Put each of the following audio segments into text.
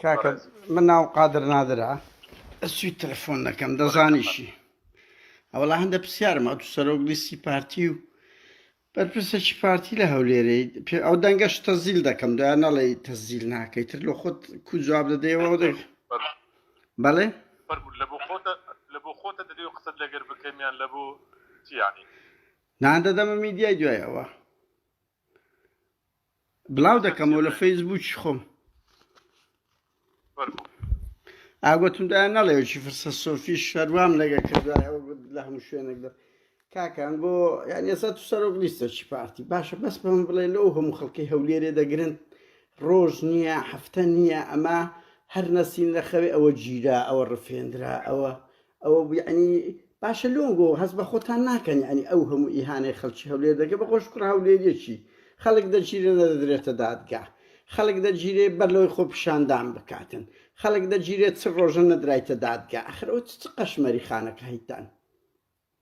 کاکە من ناوم قادر نادرە ئەسوی تەلەفۆن دەکەم دەزانیشی ئەوڵا هەندە پرسیارم ئەو سەرۆک لیستی پارتی و بەرپرسێکی پارتی لە هەولێرەی پێ ئەو دەنگەش تەزیل دەکەم دویان نەڵێ تەزیل ناکەی تر لە خۆت کو جواب دەدەیەوە ئەو دەک بەڵێ لە بۆ خۆتە لە بۆ خۆتە دەدەی و قسەت لەگەر بکەمیان لە بۆ چیانی نان دەدەمە میدیای دوایەوە بلاو دەکەمەوە لە فەیسبوکی خۆم ئاگوتم دایان نەڵێکی فرسە سۆفی شەروام لەگە کردای ئەو لە هەموو شوێنێک دە کاکان بۆ یان ئێستا تو سەرۆک لیستەکی پارتی باشە بەس بەم بڵێ لەو هەموو خەڵکی هەولێرێ دەگرن ڕۆژ نییە هەفتە نییە ئەمە هەر نەسین لە خەوێ ئەوە گیرا ئەوە ڕفێنرا ئەوە ئەوە بوو یەعنی باشە لۆنگۆ هەست بە خۆتان ناکەن یەعنی ئەو هەموو ئیهانەی خەڵکی هەولێر دەکەن بە خۆش کوڕە هەولێریەکی خەڵک دەگیرێ نەدەدرێتە دادگا خەڵک دەگیرێ بەر لەوەی خۆپیشاندان بکاتن خەڵک دەگیرێت چ ڕۆژە نەدرایتە دادگا ئەخر ئەو چ قەشمەری خانەکایتان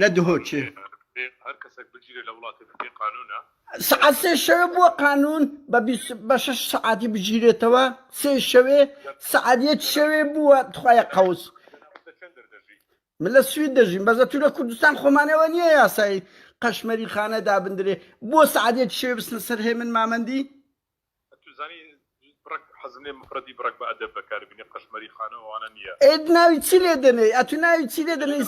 لە دهۆکێ. سەعات سێ شەوێ بووە قانوون بە بیست بە شەش سەعاتی بگیرێتەوە سێ شەوێ سەعات یەک شەوێ بووە تخوایە قەوس من لە سوید دەژیم بەزە تو لە کوردستان خۆمانەوە نییە یاسایی قەشمەری خانە دابندرێ بۆ سەعات یەک شەوێ بستنە سەر هێمن مامەندی ئەی ناوی چی لێ دەنێی ئەتوو ناوی چی لێ دەنێی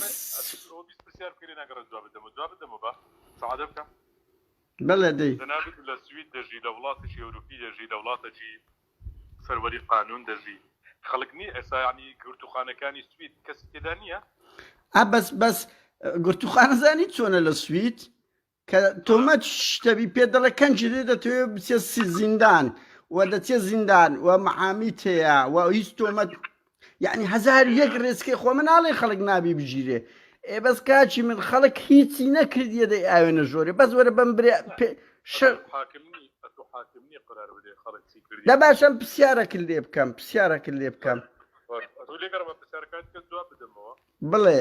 سعادە. بەڵێ دەی. ئا بەس بەس گرتووخانە زانی چۆنە لە سوید کە تۆمەت شتەبی پێ دەڵێ کەنجی لێ دەتەوێ بچێ سی- زیندان و دەچێ زیندان و محامی تەیە و هیچ تۆمەت یعنی هزار و یەک ڕێسکی خۆ من ناڵێ خەڵک نابی بگیرێ ئێ بەس کاچی من خەڵک هیچی نەکردیە دەی ئاوێ نەژۆرێ بەس وەرە بەم برێ پێ- شەر حاکمنی ئەتو حاکمنی قرار بدەی خەڵک چی کردی دە باشم پرسیارەکن لێ بکەم پرسیارەکن لێ بکەم باش ئەتو لێگەڕمە پرسیارەکانت کە جواب بدەمەوە بڵێ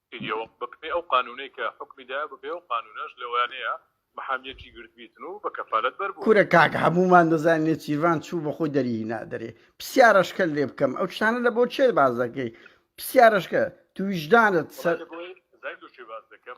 کردیەوە بەپێی ئەو قانونەی کە حوکمی دایە بەپێی ئەو قانونەش لەوانەیە محامیەکی گرتبیتن و بە کەفالەت بەر بووە. کورە کاک هەموومان دەزانین نێچیرڤان چوو بەخۆی دەری هینا دەرێ پسیارەشکەت لێ بکەم ئەو شتانە لە بۆ کێ باس دەکەی پسیارەشکە تو ویژدانت سە. وەڵا لە بۆی زایدۆ کێ باس دەکەم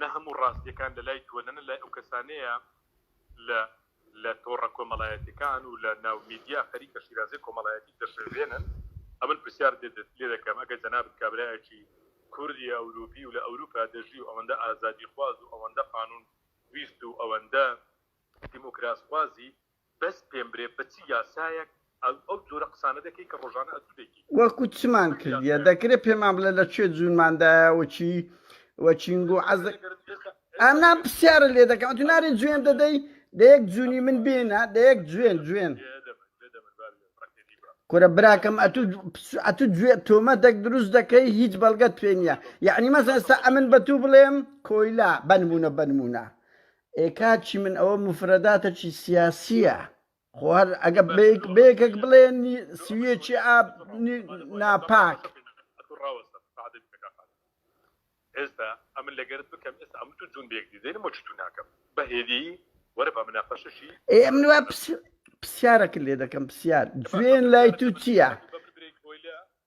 نە هەموو ڕاستیەکان لە لای تۆ نە نە لای ئەو کەسانەیە لە لە تۆڕە کۆمەڵایەتیەکان و لە ناو میدیا خەریکە شیرازەی کۆمەڵایەتیت دەشێوێنن ئەمن پرسیار لێ دەکەم ئەگەر جەنابت کابرایەکی کوردی ئەوروپی و لە ئەوروپا دەژی و ئەوەندە ئازادی خواز و ئەوەندە قانون ویست و ئەوەندە دیموکراس خوازی بەس پێم برێ بە چ یاسایەک ئەو جۆرە قسانە دەکەی کە ڕۆژانە ئەتوو دەیکەی. وەکو چمان کردیە دەکرێ پێمان بڵێ لە کوێ جوونمان دایە و چی و چین گوو عەزە ئەم نا پسیارە لێ دەکەم ئەتوو نارێ جوێن دەدەی دەیەک جوونی من بێنە دەیەک جوێن جوێن کورە براکەم ئەتوو ئەتوو گوێ تۆمە دەک دروست دەکەی هیچ بەڵگەت پێ نییە یعنی مەسەستا ئەمن بە تو بڵێم کۆیلا بەنمونە بەنمونە ئێ کاک چیمن ئەوە موفرەداتەکی سیاسیە خۆ هەر ئەگە بەیەکەک بڵێ سویەکی ئاب ناپاک ئێستا ئەمن لەگەرت بکەم ئێستا ئەم تو جون بێک دیدەین مۆچ تو ناکەم بەهێدی وەرە بە مناقەشەشی ئێ ئەم نوە پرسیارەکە لێ دەکەم پرسیار جوێن لای تو چییە؟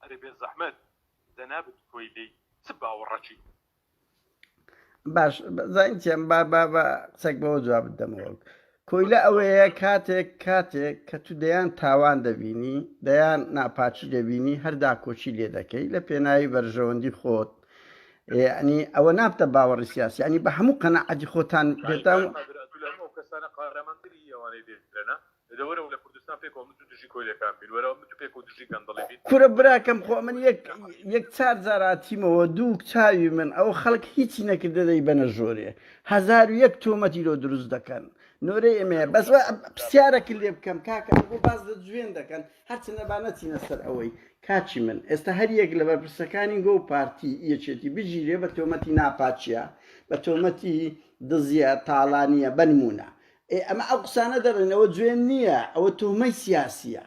ئەرێ بێزەحمەت جەنابت کۆیلەی چ باوەڕەکی؟ باش زانین چیان با با با قسەک بەوە جوابت دەمەوە کۆیلە ئەوەیە کاتێک کاتێک کە تو دەیان تاوان دەبینی دەیان ناپاچی دەبینی هەردا کۆچی لێ دەکەی لە پێناوی بەرژەوەندی خۆت ینی ئەوە نابتە باوەڕی سیاسی ینی بە هەموو قەنەعەتی خۆتان پێتان کەسانە قارەمەندری ئەوانەی دێنە دەوەرەوە لە کوردستان پێکەوە متو دژی کۆیلەکان بین وەرەوە متو پێکەوە دژی گەندەڵی بین. کورە براکەم خۆ من یەک یەک چار جار هاتیمەوە دووک چاوی من ئەوە خەڵک هیچی نەکردە دەیبەنە ژۆرێ هەزارو یەک تۆمەتی لۆ دروست دەکەن نۆرەی ئێمەیە بەس وا پسیارەکن لێ بکەم کاکە ئەو بۆ باز لە جوێن دەکەن هەرچەندە با نەچینە سەر ئەوەی کاچی من ئێستا هەر یەک لە بەرپرسەکانی گۆ پارتی یەکێتی بگیرێ بە تۆمەتی ناپاچیە بە تۆمەتی دزیە تاڵانیە بەنمونە ئێ ئەمە ئەو قسانە دەڕێن ئەوە جوێن نیە ئەوە توهمەی سیاسیە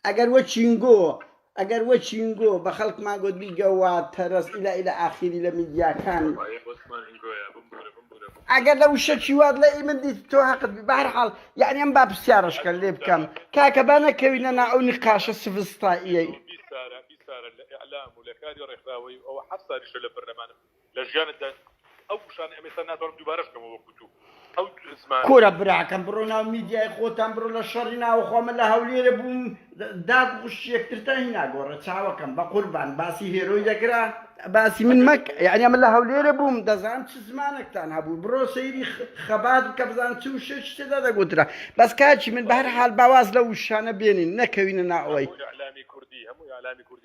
ئەگەر وە چینگۆ ئەگەر وە چینگۆ بە خەڵکمان گۆت بیگە وە تەرەز ئیلە ئیلە ئاخیری لە میدیاکان ئەگەر لە وشە چی وات لە ئی من دیت تۆ هەقت بی بە هەر حاڵ یانی ئەم با پرسیارەشکە لێ بکەم کاکە با نەکەوینە نا ئەو نیقاشە سڤستاییەی. بیسارە بیسارە لە ئیعلام و لە کاری ڕێکخراوەی و ئەوە حەفت سالیشە لە پەرلەمانم لە ژیانتدا ئەو وشانە ئەم ئێستا ناتوانم دووبارەش کەمەوە وەکو تو ئەو زمان کورە براکەم بڕۆ ناو میدیای خۆتان بڕۆ لە شەڕی ناوەخۆ من لە هەولێرە بووم داک و خوشکی یەکترتان هینا گۆڕێ چاوەکەم بە قوربان باسی هێرۆی دەکرا باسی من مەک یعنی من لە هەولێرە بووم دەزان چ زمانێکتان هەبوو بڕۆ سەیری خەبات بکە بزان چ و شێش تێدا دەگوترا بەس کاچی من بە هەر حال باواز لە وشانە بێنین نەکەوینە ناوەی ئەوەی. اعلامی کوردی هەموو اعلامی کوردی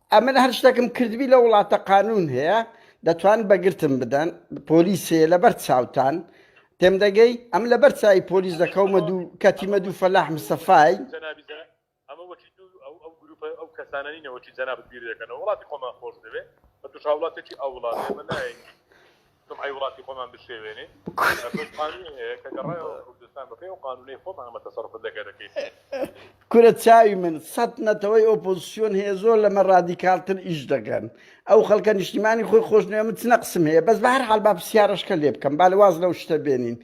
ئەمن هەر شتەکم کردبی لە وڵاتە قانون هەیە دەتوان بەگرتم بدەن پۆلیسێ لەبەر چاوتان تێم دەگەی ئەم لەبەر چای پۆلیس دەکەومە دوو کەتیمە دوو فەلاح مسەفای ئەو کەسانانی نەوەی جەنابەت بیر دەکەنەوە وڵاتی خۆمان خۆش دەوێت بە توش هاوڵاتێکی ئەو وڵاتێمە نایە جومعەی وڵاتی خۆمان بشێوێنین ئەمەش قانونی هەیە کە گەڕایەوە کوردستان بەپێی ئەو قانونەی خۆمان ئەمە تەسەروفت لە گەرەکەی. کورە چاوی من سەت نەتەوەی ئۆپۆزسیۆن هەیە زۆر لەمە ڕادیکالتر ئیش دەکەن ئەو خەڵکە نیشتیمانی خۆی خۆش نوێ من چ نەقسم هەیە بەس بە هەر حال با پرسیارەشکە لێ بکەم با لە واز لەو شتە بێنین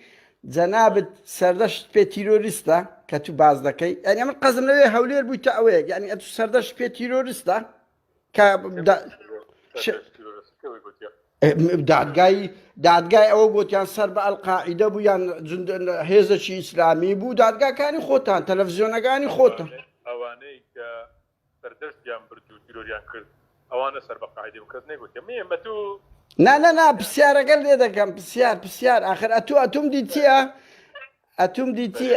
جەنابت سەردەشت پێ تیرۆریستە کە تو باز دەکەی یعنی من قەزم لەوێ هەولێر بوویتە ئەوەیەک یعنی ئەتو سەردەشت پێ تیرۆریستە کە دادگای دادگای ئەوە گوتیان سەر بە ئەلقاعیدە بوو یان هێزەکی ئیسلامی بوو دادگاکانی خۆتان تەلەڤزیۆنەکانی خۆتان ئەوانەی کە سەردەستیان برد و تیرۆریان کرد ئەوانە سەر بە قاعدی و کەس نێگوتێ مێمە تو نانەنا پرسیارەکە لێ دەکەم پرسیار پرسیار آخر ئەتو ئەتوم دیتیە ئەتوم دیتی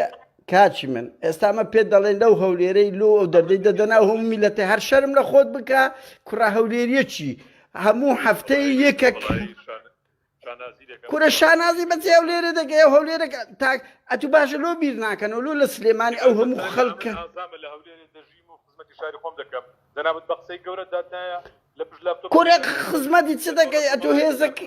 کاکی من ئێستا مە پێت دەڵێن لەو هەولێرەی لۆ ئەو دەردەی دەدەنا هەم میلەتی هەر شەرم لە خۆت بکە کوڕە هەولێریەکی هەموو هەفتەی یەکەک کورە شانازی بەچی ئەو لێرە دەگەی ئەو هەولێرە تاک ئەتو باشە لۆ بیر ناکەن و لۆ لە سلێمانی ئەو هەموو خەڵکە دەنابەت بە قسەی گەورە دادایە لە پشت لە کورە خزمەتی چ دەگەی ئەتو هێزەکە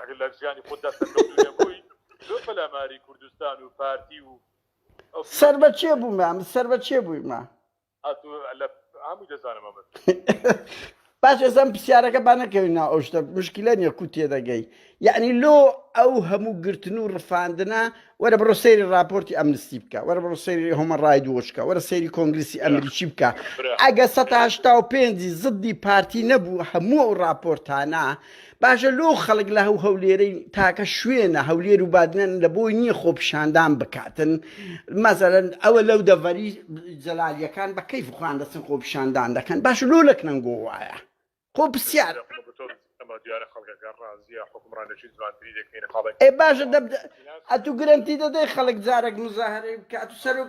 ئەگەر لە ژیانی خۆتدا سەرکەوتوو نەبووی لۆ پەلاماری کوردستان و پارتی و ئەو پیاوە سەر بە کێ بوومە ئەم سەر بە کێ بوویمە ئەتو لە هەمووی دەزانم ئەمە باش ئێستا ئەم پرسیارەکە با نەکەوین ناو ئەو شتە مشکلە نییە کو تێدەگەی یعنی لۆ ئەو هەموو گرتن و ڕفاندنە وەرە بڕۆ سەیری راپۆرتی ئەمنستی بکە وەرە بڕۆ سەیری هۆمە ڕاید وۆچکە وەرە سەیری کۆنگلیسی ئەمریکی بکە ئەگە 1970 پێنجی زدی پارتی نەبوو هەموو ئەو راپۆرتانە باشە لۆ خەڵک لە هەو هەولێرەی تاکە شوێنە هەولێر و بادنەن لە بۆی نییە خۆپیشاندان بکاتن مەزەرن ئەوە لەو دەڤەری جەلالیەکان بە کەیف خوان دەچن خۆپیشاندان دەکەن باش لۆ لەک نەنگۆ وایە خۆ پرسیار ئێ باشە ئەتو گرنتی دەدەی خەڵک جارێک مزاهرەی بکات و سەرک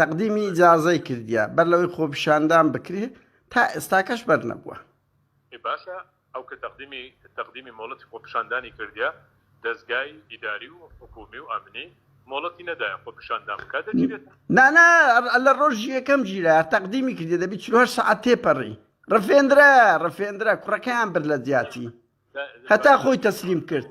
تەقدیمی ئیجازەی کردیە بەر لەوەی خۆپیشاندان بکرێ تا ئێستاکەش بەرنەبووە. ئێ باشە ئەو کە تەقدیمی تەقدیمی مۆڵەتی خۆپیشاندانی کردیە دەزگای ئیداری و حکوومی و ئەمنی مۆڵەتی نەدایە خۆپیشاندان بکا دەگیرێت؟ نا نا لە ڕۆژی یەکەم گیرا تەقدیمی کردیە دەبی چل و هەشت سەعات تێپەڕی ڕفێندرا ڕفێندرا کوڕەکەیان برد لە جیاتی هەتا خۆی تەسلیم کرد.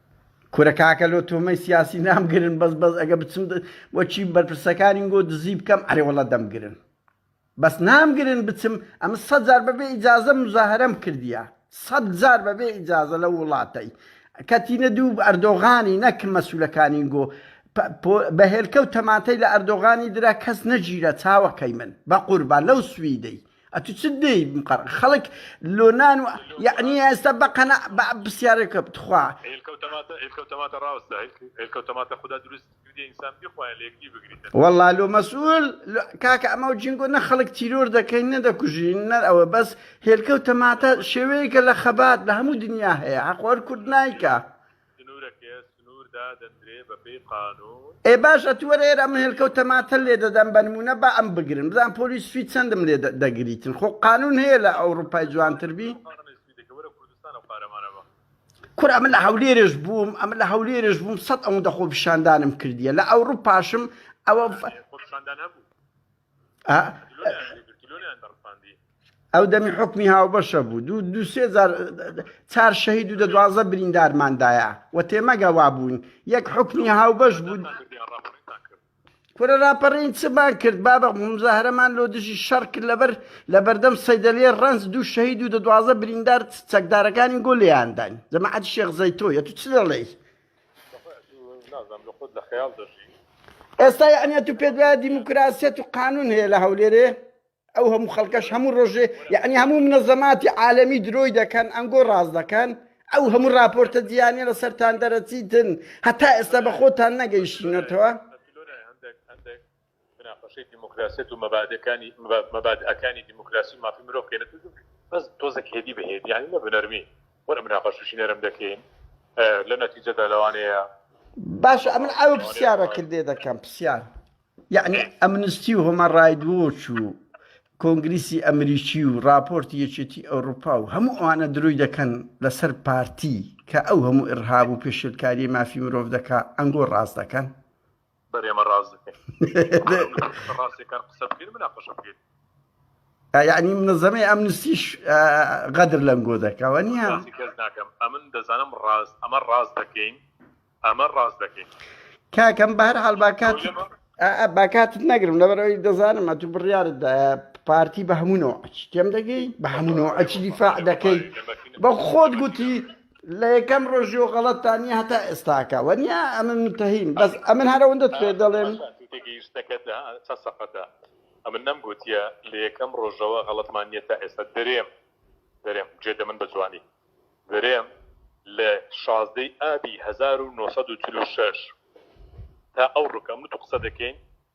کورە کاکە لۆ تۆمەی سیاسی نامگرن بەس بەس ئەگە بچم وەکی بەرپرسەکانی گۆ دزی بکەم ئەرێ وەڵا دەمگرن بەس نامگرن بچم ئەمە سەد جار بەبێ ئیجازە مزاهرەم کردیە سەد جار بەبێ ئیجازە لەو وڵاتەی کەتینە دوو ئەردۆغانی نەک مەسولەکانی گۆ بە هێلکە و تەماتەی لە ئەردۆغانی درا کەس نەگیرا چاوەکەی من بە قوربان لەو سویدەی ئەتو چ دەی مقڕ خەڵک لۆنان و یعنی ئێستا بەقەنا بە پرسیارێکە بتخوا والله لۆ مەسول کاکە ئەمە جینگۆ نە خەڵک تیرۆر دەکەین نەدەکوژین نەر ئەوە بەس هێلکە و تەماتە شێوەیەکە لە خەبات لە هەموو دنیا هەیە حەقۆر کورد نایکە. ئێ باش ئەتو وەرە ئێرە ئەم هێلکەو تەماتە لێ دەدەم بە نمونە با ئەم بگرن بزان پۆلی سوید چەندم لێ دەگریتن خۆ قانون هەیە لە ئەوروپای جوانتر بی کورە ئەمە لە هەولێرش بووم ئەمە لە هەولێرش بووم سەد ئەوەندە خۆپیشاندانم کردیە لە ئەوروپاشم ئەوە ئەو دەمی حکمی هاوبەشە بوو دوو دوسێ چار شەهید و دە دوازە بریندارماندایە و تێمەگە وا بوون یەک حکمی هاوبەش بوون کورە راپەڕین چمان کرد بابە مزاهرەمان لۆ دژی شەڕ کرد لەبەر لە بەردەم سەیدەلێ ڕنج دوو شەهید و دە دوازە بریندار چەکدارەکانی گۆ لێیانداین جەماعەت شێخ زەیتۆیە تو چ دەڵێی ئێستا یەعنی ئەتوو پێت وایە دیموکراسیەت و قانون هەیە لە هەولێرێ ئەو هەموو خەڵکەش هەموو ڕۆژێ یعنی هەموو منەزەماتی عالەمی درۆی دەکەن ئەنگۆ ڕاست دەکەن ئەو هەموو راپۆرتە دییانە لە سەران دەرەچیتن هەتا ئێستا بە خۆتان نەگەیشتنەتەوە بناقەشەی دیموکراسیەت و مەبادئەکانی دیموکراسی و مافی مرۆڤ کەینە تۆزێک بەس تۆزێک هێدی بە هێدی یانی نە بنەرمی وەرە مناقەشەشی نەرم دەکەین لە نەتیجەدا لەوانەیە باشە ئەمن ئەو پرسیارەکرد لێ دەکەم پرسیار یعنی ئەمنستی و هۆمە ڕایدوۆچ و کۆنگریسی ئەمریکی و راپۆرتی یەکێتی ئەوروپا و هەموو ئەوانە دروی دەکەن لەسەر پارتی کە ئەو هەموو ئڕهاب و پێشلکاری مافی مرۆڤ دەکا ئەنگۆ ڕاست دەکەن بەرێمە ڕاست ڕاستەکان قسە بکەین مناقەشە بکەین یعنی منەزەمەی ئەم نسیش غەدر لەم گۆ دەکەوە نیە کەس ناکەم ئەمن دەزانم ڕاست ئەمە ڕاست دەکەین ئەمە ڕاست دەکەین کاکەم بەهر حال باکات باکاتت نەگرم لەبەرەوەی دەزانم ئەتو بڕیارت پارتی بە هەمونەوە ئەچی تێم دەگەی بە هەمونەوە ئەچی دیفاع دەکەی بە خۆت گوتی لە یەکەم ڕۆژی و غەڵەت تا نیە هەتا ئێستاکە وە نیە ئەمن منتەهیم بەس ئەمن هەرە وندت پێ دەڵێم تێگەیشتەکەت چە سەقەتە ئەمن نەم گوتیە لە یەکەم ڕۆژەوە غەڵەتمان نیە تا ئێستا درێم درێم جێ دەمن بە جوانی درێم لە شازدەی ئابی 1940 تا ئەو ڕکەم تو قسە دەکەین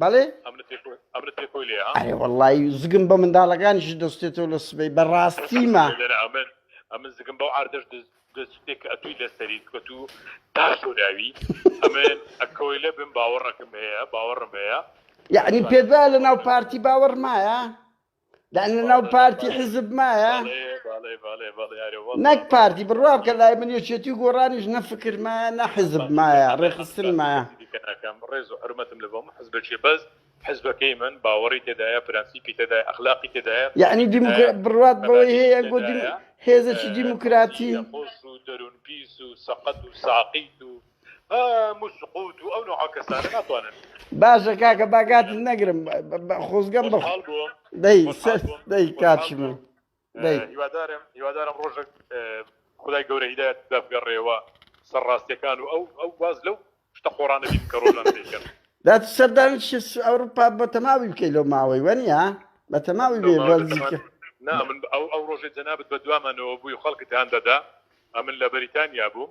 بەڵێ ئەرێ وەڵی زگم بە منداڵەکانیش دەستێتەوە لە سبەی بەڕاستیمە ئەمن زگم بەو ئاردەش دەستێک ئەتووی لەسەری کەت و تا شوراوی ئەمن ئەکەوەی لە بم باوەڕەکەم هەیە باوەڕم هەیە یعنی پێدا لە ناو پارتی باوەڕمایە دان لەناو پارتی حزب مایە نەک پارتی بڕوا بکە لای من یەکێتی و گۆڕانیش نەفکر مایە نە حزب مایە ڕێخستن مایە کەم ڕێز و حرمەتم لە بۆم حزبەکێ بەس حزبەکەی من باوەڕی تێدایە پرەنسیپی تێدای ئەخلاقی تێدایە یعنی بڕات بەوەی هەیە گۆ هێزەکی دیموکراتی خۆش و دەروون پیس و سەقەت و ساقیت و باشە کاکە با کاتت نەگرم خۆزگەم بە خۆشحاڵ بووم دەی سەر دەی کاتشی من دەی هیوادارم هیوادارم ڕۆژێک خودای گەورە هیدایەتت دا بگەڕێیەوە سەر ڕاستییەکان و ئەو ئەو واز لەو شتە قۆڕانە بینم کە ڕۆژانە دەیکەن دات سەردانی شت ئەوروپا بە تەماوی بکەی لەو ماوەی وەنیە بە تەماوی بێ بە نزیکە نا من ئەو ئەو ڕۆژێ جەنابت بە دوامانەوە بووی و خەڵکت هان دەدا ئەمن لە بەریتانیا بووم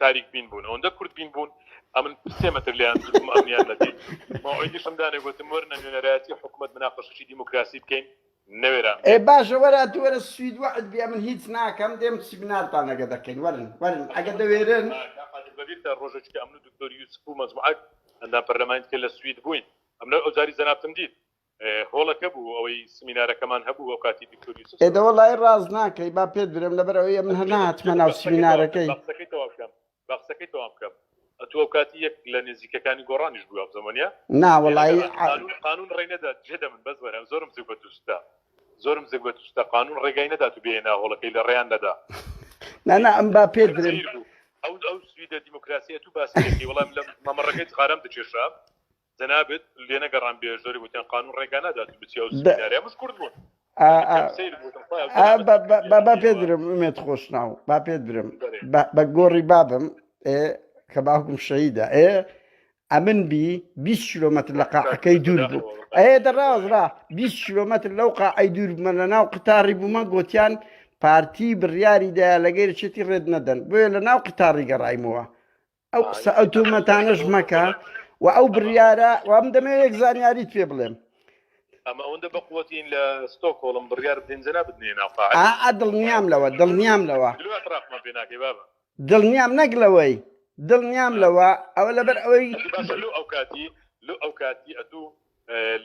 تاریک بین بوون ئەوەندە کورت بین بوون ئەمن سێ مەتر لێیان دروم ئەمنیان نەدیت مەوعیدیشم دانێ گوتم وەرنە نوێنەرایەتی حکومەت مناقەشەی دیموکراسی بکەین نەوێران ئێ بێن. باشە وەرە تو وەرە سوید وەعد بی ئەمن هیچ ناکەم دێم سیمینارتان ئەگە دەکەین وەرن وەرن ئەگە دەوێرن. کاک قادر بەبیرتە ڕۆژێک کە ئەمن و دکتۆر یوسف و مەجموعەک ئەندام پەرلەمانی دیکە لە سوید بووین ئەمن ئەوجاری جەنابتم دیت. هۆڵەکە بوو ئەوەی سمینارەکەمان هەبوو ئەو کاتی دکتۆر یوسف ئێ دەوە لای ڕاست ناکەی با پێت برێم لەبەر ئەوەیە من هەر ناتمە ناو سمینارەکەی با قسەکەی تەواو بکەم با قسەکەی تەواو بکەم ئەتوو ئەو کاتی یەک لە نێزیکەکانی گۆڕانیش بوو ئەم زەمەنە نا وەڵایی قانون قانون ڕێی نەدات جێدە من بەس وەرە زۆرم زوو بە دووستا زۆرم زگ بە دووستا قانون ڕێگای نەدات و بێنە هۆڵەکەی لە ڕێیان نەدا نا نا ئەم با پێت برێم زیر بوو ئەو ئەو سویدە دیموکراسیەت و باسەکەی وەڵام لە مەمەڕەکەی جغارەم دکێشا جەنابت لێنەگەڕام بێ زۆری وتیان قانون ڕێگا نادات و بچی ئەو سمینارە مش کورد بوون با پێ درم ئومێت خۆشناو با پێ درم بە گۆڕی بابم کە باوکم شەیدا ئێ ئەمن بی 20 کیلومتر لە قاعەکەی دوور بوو ئەێ دەڕازرا 20 کیلومتر لەو قاعی دوور بمە لە ناو قتاری بوومە گوتیان پارتی بڕیاری دایا لەگەر چێتی ڕێت نەدەن بۆیە لە ناو قتاری گەڕایمەوە ئەو قسە ئەو تۆمەتانەش مەکە و ئەو بڕیارە وام دەمێ یەک زانیاریت پێ بڵێم ئەمە ئەوەندە بەقوەتین لە ستۆکۆڵم بڕیار بدەین جە نابت نێ ناوقاع ئا دڵنیام لەوە دڵنیام لەوە ترافمان پێ ناکەی بابە دڵنیام نەک لەوەی دڵنیام لەوە ئەوە لەبەر ئەوەی باشە لۆ ئەو کاتی لۆ ئەو کاتی ئەتوو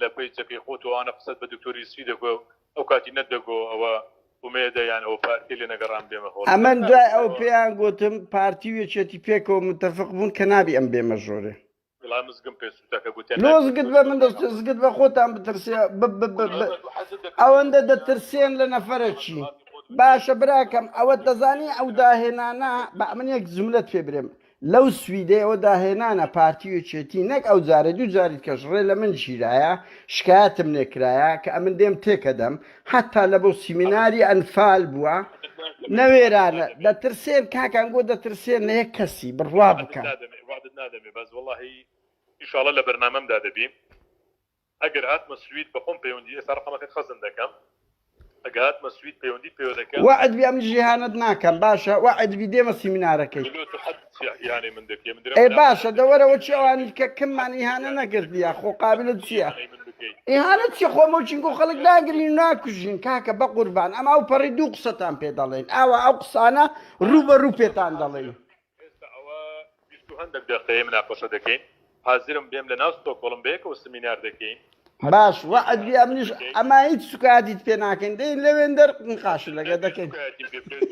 لە پەیجەکەی خۆ تۆ ئانە قسەت بە دکتۆر یوسفی دەگۆ ئەو کاتی نەت دەگۆ ئەوە ئومێدە یان ئەوە پارتی لێ نەگەڕام بێمە هۆڵ ئەمن دوای ئەو پێیان گوتم پارتی و یەکێتی پێکەوە متفق بوون کە نابی ئەم بێمە ژۆرێ وڵا مزگم پێ سووتە کە گوتیان لۆ ناکرێت زگت بە من دەست بۆ زگت بە خۆتان بترسێ ب- ب- ب- ب- ئەمە دوو حەزت دەکرد ئەوەندە بۆ دەترسێن لە نەفەرەکی باشە براکەم ئەوە دەزانی ئەو داهێنانە بە من یەک جملەت پێ برێم لەو سویدەیەوە داهێنانە پارتی و یەکێتی نەک ئەو جارە دوو جاری دیکەش ڕێ لە من گیرایە شکایەتم لێ کرایە کە ئەمن دێم تێکەدەم حەتا لە بۆ سیمیناری ئەنفال بووە نەوێرانە دەترسێن کاکان گۆ دەترسێن لە یەک کەسی بڕوا بکەن وعدت نادەمێ بەس وەڵاهی ئیشاڵە لە بەرنامەمدا دەبی. ئەگەر هاتمە سوید بەخۆم پەیوەندی ئێستا ڕەقەمەکەت خەزن دەکەم ئەگە هاتمە سوید پەیوەندیت پێوە دەکەم. وەعد بی ئەمن جیهانت ناکەم باشە وەعد بی دێمە سیمینارەکەی. ملۆ تو حد یانەی من دەکەی من درم ئێ باشە دە وەرە وەچی ئەوانی کە کممان ئیهانە نەکردیە خۆ قابلت چیە ئیهانە چی خۆ مەوچین گۆ خەڵک ناگرین ناکوژین کاکە بە قوربان ئەم ئەو پەڕی دوو قسەتان پێ دەڵێن ئاوا ئەو قسانە ڕوو بە ڕوو پێتان دەڵێن. ئێستا ئەوە بیست و هەندەک دەقەیە مناقەشە دەکەین، حازرم بێم لەناو ستۆکۆڵم بەیەکەوە سمینار دەکەین. باش وەعد بی ئەمنیش ئەما هیچ سوکایەتیت پێ ناکەین دێین لەوێن دەر نقاش لەگە دەکەین سوکایەتیم پێ بکەیت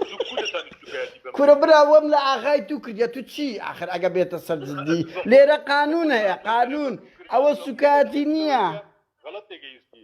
زوو کورە تانی سوکایەتی بەم کورە برا وەم لە ئاغای تو کردیە تو چی ئاخر ئەگە بێتە سەر جدی لێرە قانون هەیە قانون ئەوە سوکایەتی نیە غەڵەت تێگەیشتی.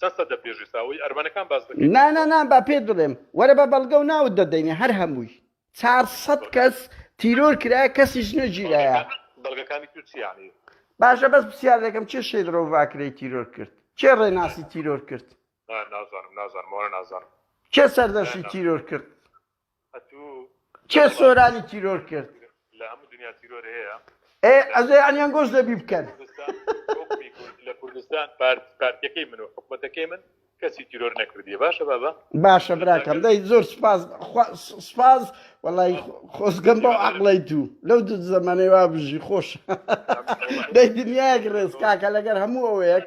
چەند سەد دەپێژێ ساوەی ئەرمەنەکان باس دەکەی نا نا نا با پێت بڵێم وەرە بە بەڵگەو ناوت دەدەینێ هەر هەمووی چار سەد کەس تیرۆر کرایە کەسیش نەگیرایە بەڵگەکانی تو چی یانی. باشە بەس پسیار دەکەم کێ شێت ڕۆڤاکرەی تیرۆر کرد کێ ڕێناسی تیرۆر کرد. نا نازانم نازانم ئەوانە نازانم. کێ سەردەشتی تیرۆر کرد. کێ سۆرانی تیرۆر کرد؟ ئێ ئەزێ یانی ئەنگۆش دەبی بکەن. باشە براکەم دەی زۆر سوپاس خوا سوپاس وەڵای خۆزگەم بەو عەقڵەی دوو لەو دوو زەمەنەی وا بژی خۆش دەی دنیایەک ڕێز کاکە لەگەر هەموو ئەوەیەک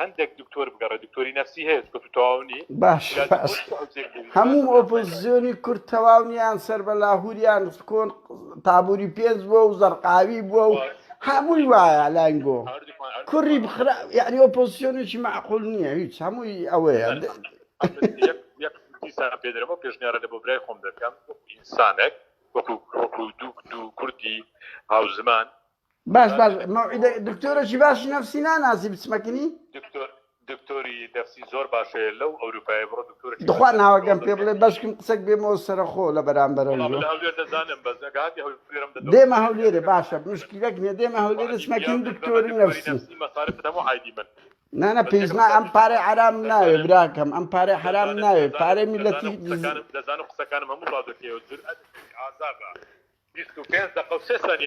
هەندێک دکتۆر بگەڕێ دکتۆری نفسی هەیە چکە تو تەواو نی باش هەموو ئۆپۆزیۆنی کورد تەواو نیان سەر بە لاهوریان کۆن تابووری پێنج بووە و زەرقاوی بووە و هەمووی وایە لانگۆ کوڕی بخرا یعنی ئۆپۆزیۆنێکی معقول نییە هیچ هەمووی ئەوەیە پێدرەوە پێشنیارە لە بۆ برای خۆم دەکەم ئینسانێک وەکو وەکو دوو دوو کوردی هاوزمان باش باش مەوعیدە دکتۆرەکی باشی نفسی ناناسی بچمەکنی دکتۆر دکتۆری نفسی زۆر باشەیە لەو ئەوروپای بڕۆ دکتۆر دخوا ناوەگەم پێ بڵێ بەشکم قسەک بێمەوە سەرخۆ لە بەرامبەرە هەولێر دەزانم بەس ئەگاتی هەولێرم دێمە هەولێرە باشە مشکلەک نیە دێمە هەولێرە چمەکین دکتۆری نفسی مەسارف هەموو عیدی من نانە پێزنا ئەم پارێ عرام ناوێ براکەم ئەم پارێ حرام ناوێ پارێ میلەتی دەزانم قسەکانم هەموو ڕادەکەی و جور ئازابە 25 دقە و سێ سانی